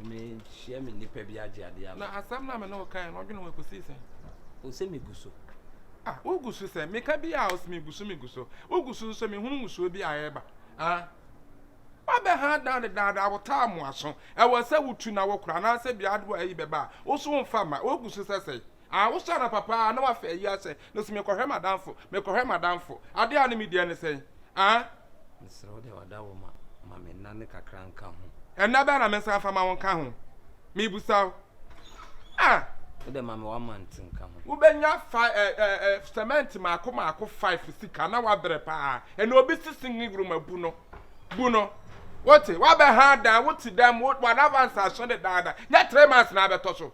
mehyia me nnipa bi agye adeɛ ama na asɛm no a me ne wokae no ɔdwene ho ɛkɔsii sɛn o sɛ megu so ah wogu so sɛ meka bi a ɔsɛ megu so megu so wogu so nso mehunu ngusuo bi a ɛreba ah wabɛ ha dan dedaada awotaa mmoaso ɛwɔ sɛ wotu na wokora anaasɛ biadoa ayi bɛba a woso mfa ma wogu so sɛ sɛe Ah wo hyɛ anapa paa na w'afa ayi ahyɛ no so mekɔhwɛ m'adamfo mekɔhwɛ m'adamfo adeɛ a ne me deɛ ne sɛn ah. Mesrɛ wo deɛ w'ada wo ma ma me nna ne kakra nka ho. Ɛnna bɛn na me nsa nfa ma wo nka ho mebusa wo ah. Wo deɛ ma me w'amante nka ho. Wobɛnya fa eh eh eh cement maako maako five sika na w'abrɛ paa ɛnna obi si singing room abu no bu no wote w'abɛha dan wote dan mu w'adamfo ansa ahyɛ no dan da nyɛ three months na abɛtɔ so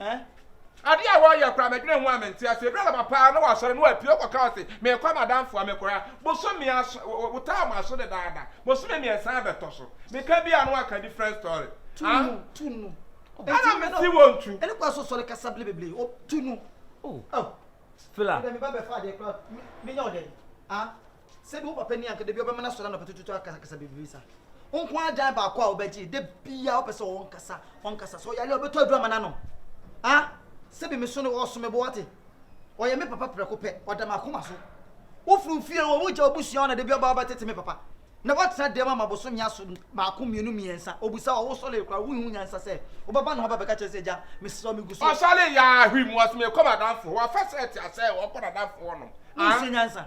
Eh? Adeɛ a wɔyɛ koraa mɛdwene ho a mente aseɛ. Ɛduru anɔpa paa na wɔasɔre na wɔapie wɔkɔka wɔ se merekɔ amadamfoɔ a mekɔɛ a bosome aso wotaa wɔn aso dedaada. Bosome mmiɛnsa abɛtɔ so. Meka bi a na wɔaka different story. Tu ah? no, tu no. Ɛna mesi wɔn tu. Ɛne kɔ aso sɔre kasa bile bebree. O tu no. Oh. Oh. Fila. Ɛdɛ mi ba bɛ fa adeɛ kura mi nya ɔdɛ. Ah. Sɛbi wo papa ni anka da bi ɔbɛma no asɔre anɔpa tututu akasakasa bebree sa. Wo nko ara dan baako a wobɛgye da bi a wopɛ sɛ ɔwɔ nkasa ɔnkasa sɛ ɔyare a ɔbɛtɔ aduru ama no anom. A sɛbi me so ne ɔso me bo wate. Ɔyɛ me papa prɛko pɛ ɔda m'akoma so. Wofiri wo fie wɔ wogya wobusua hɔ na da bi ɔba ɔbɛtete me papa. Na watena dɛm ama bosome aso baako mmienu mmiɛnsa ɔbusa wɔ wosɔre koraa wonhu nyansa sɛ wobɛba ne hɔ aba bɛka kyerɛ sɛ agya mesrɛ wo megu so. Ɔsɔre yɛ a hwim ɔse mekɔ m'adamfo hɔ afɛsɛ ɛte asɛ ɔkɔ n'adamfo hɔnom. Wonsua nyansa.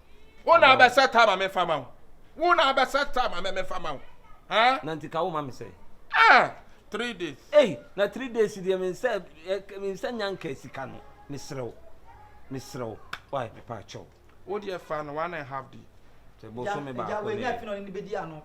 Wo na abɛ set ama me fa ma wo. Wo na abɛ set ama me me fa ma wo. Huh? Na nti ka wo ma me sɛ. Ah! Three days. Ei, na three days deɛ me nsa me nsa nya nka sika no. Mesrɛ wo. Mesrɛ wo. Why me pa kyɛw. Wo deɛ fa no one and half day. Sɛ bosome baako ne. Ɛgya wɔ anya afi na ɔne ne bɛdi ano.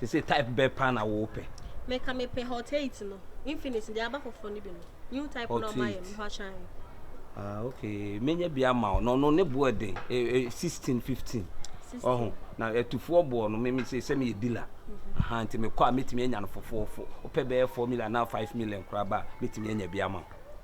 sese type bɛɛ paa na wɔwɔ pɛ. mɛka mepɛ hot eight no infinix deɛ aba foforɔ no bi no new type na ɔma yɛ mfa kyɛn. ah okay menya bi ama wo na ɔno ne boɔ den e, e, sixteen fifteen ɔho na atufoɔ boɔ no meme sɛ sɛ meyɛ dila mhm. aha nti mekɔ a mɛtumi anya no fofoofo wopɛ bɛyɛ four million anaa five million koraa ba a mɛtumi anya bi ama wo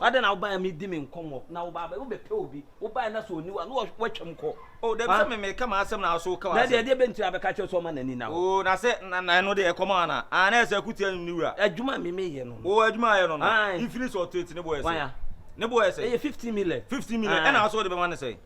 Adɛn na wobaeɛ medi me nkɔmmɔ na woba bɛ wobɛpɛ obi wobaeɛ na sɛ ɔni hɔ a na woatwam kɔ. O dabi sɛ me meka m'asɛm na wo so woka w'asɛm. Daabi ɛdeɛ bɛnti na bɛka kyerɛ sɛ ɔma n'ani nna hɔ. O na sɛ na na ɛno deɛ ɛkɔm ana aa na ɛsɛ akutia no ne wura. Adwuma a me meyɛ no no. O adwuma a ɔyɛ no no. Ae. Mfiri sɛ ɔtete ne boɔ ɛsɛ. Wan a? Ne boɔ ɛsɛ. Ɛyɛ fifteen million. Fifteen million ɛna wo so wode bɛma no sɛn.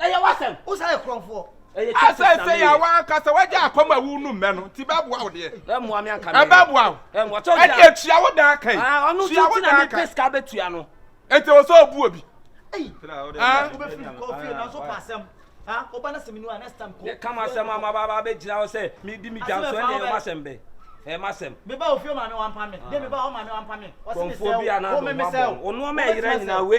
ɛyɛ w'asɛm wo saa yɛ korɔmfoɔ asɛ sɛ yɛ awa ankasa wagya akɔm awu no mmɛ no nti bɛboa wo deɛ ɛmmoa me anka ɛbɛboa wo ɛde atua wo daa kan ɔno nso ti na mepɛ sika bɛtua no ɛnti wɔ sɛ ɔbu obi wobɛfiri kɔ fie na nso pa asɛm woba no sɛ menu a next time kɔ kama asɛm ama baba bɛgyina wo sɛ medi me dwa so ɛne ɛma asɛm bɛ ẹ má sẹm. mi bá òfin ọmọ mi wà ń pa mi dé mi bá ọmọ mi wà ń pa mi. kọ̀ǹfọ̀ bí anáàdùn wà bọ̀ ọ̀nù ọmọ ẹ̀yẹrẹ nyina wé